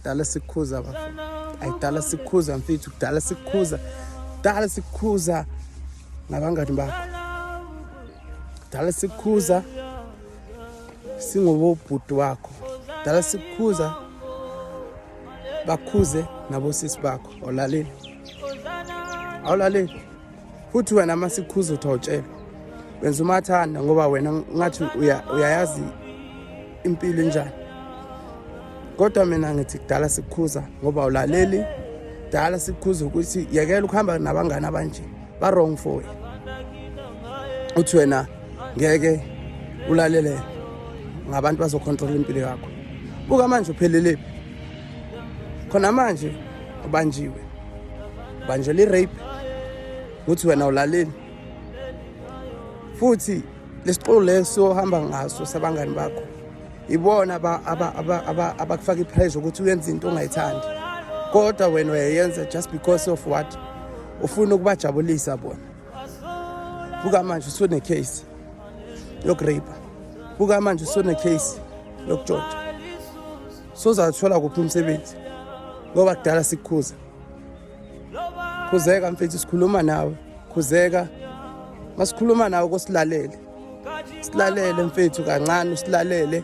Dala sikhuza bafo. Ay dala sikhuza mfethu, dala sikhuza. Dala sikhuza nabangani bakho. Dala sikhuza singobobhuti wakho. Dala sikhuza bakhuze nabosisi bakho. Olalele. Awulaleli. futhi wena uma sikhuza uthi awutshela wenza umathanda ngoba wena ngathi uyayazi impilo enjani kodwa mina ngithi kudala sikukhuza ngoba ulaleli kudala sikukhuza ukuthi yekela ukuhamba nabangani abanje ba-wrong for wena uthi wena ngeke ulalele ngabantu bazokhontrola impilo yakho buka manje uphelelephi khona manje ubanjiwe ubanjelwa i-rape ukuthi wena ulaleni futhi lesiqulu leso ohamba ngaso sabangani bakho ibona abakufaka ipressure ukuthi uyenze into ongayithandi kodwa wena uyayenza just because of what ufuna ukubajabulisa bona buka manje usunecase yokureyipha buka manje usunecase yokutshotsha sozathola kuphi umsebenzi ngoba kudala sikukhuza khuzeka mfethu sikhuluma nawe khuzeka masikhuluma nawe kosilalele silalele mfethu kancane usilalele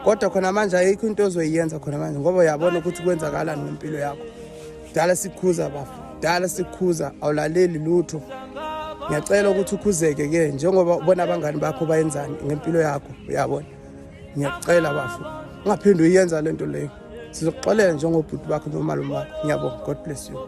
kodwa khona manje ayikho into ozoyiyenza khona manje ngoba uyabona ukuthi kwenzakalani ngempilo yakho dala sikhuza bafo dala sikhuza awulaleli lutho ngiyacela ukuthi ukhuzeke ke njengoba ubona abangani bakho bayenzani ngempilo yakho uyabona ngiyakucela bafo ungaphinde uyenza lento leyo sizokuxolela njengobhuti bakho nomalume wakho ngiyabonga god bless you